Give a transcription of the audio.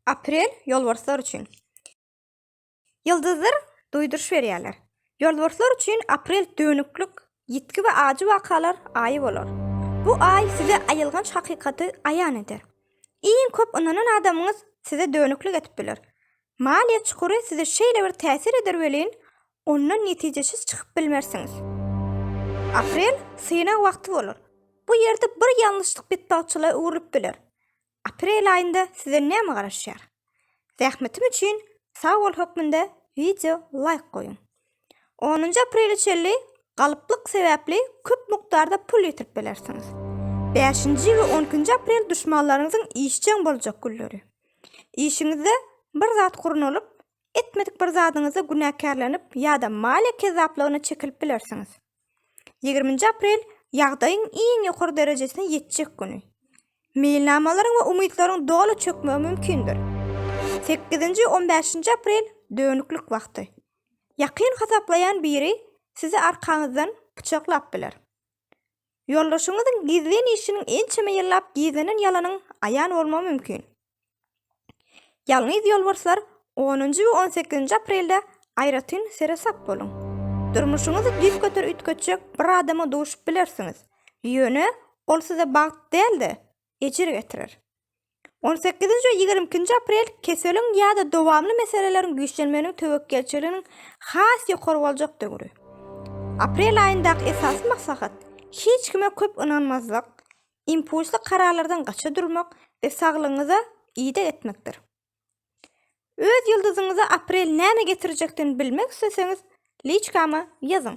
Aprel ýolbarslar üçin. Ýyldyzlar duýduryş berýärler. Ýolbarslar üçin aprel dönüklik, ýitgi we ajy wakalar aýy bolar. Bu aý size aýylganç hakykaty aýan eder. Iň köp ynanan adamyňyz size dönüklik edip biler. Maliýe çukury size şeýle bir täsir eder welin, ondan netijeçiz çykyp bilmersiňiz. Aprel synag wagty bolar. Bu ýerde bir ýalňyşlyk betbagtçylyga öwrülip biler. Aprel aýynda size näme garaşýar? Zähmetim üçin sag bol hökmünde wideo laýk goýuň. Onunjy aprele çenli galyplyk sebäpli köp mukdarda pul ýitirip bilersiňiz. Bäşinji we on ikinji aprel duşmanlaryňyzyň işjeň boljak günleri. Işiňizde bir zat gurnalyp, etmedik bir zadyňyzda günäkärlenip ýa-da maliýe kezzaplygyna çekilip bilersiňiz. Ýigriminji aprel ýagdaýyň iň ýokary derejesine ýetjek güni. Meýilnamalaryň we umytlaryň doly çökmegi mümkindir. Sekizinji, on bäşinji aprel dönüklik wagty. Ýakyn hasaplaýan biri sizi arkaňyzdan pyçaklap biler. Ýoldaşyňyzyň gizlin işiniň ençeme ýyllap gizlenen ýalanyň aýan bolmagy mümkin. Ýalňyz ýolbarslar onunjy we on sekizinji aprelde aýratyn seresap boluň. Durmuşyňyzy düýp göter üýtgetjek bir adama duşup bilersiňiz, ýöne ol size bagt däl-de, ejir getirer. On sekizinji we ýigrimi ikinji aprel keseliň ýa-da dowamly meseleleriň güýçlenmeginiň töwekgelçiliginiň has ýokary boljak döwri. Aprel aýyndaky esasy maslahat, hiç kime köp ynanmazlyk, impulsly kararlardan gaça durmak we saglygyňyza ideg etmekdir. Öz ýyldyzyňyza aprel näme getirjekdigini bilmek isleseňiz, liçkama ýazyň.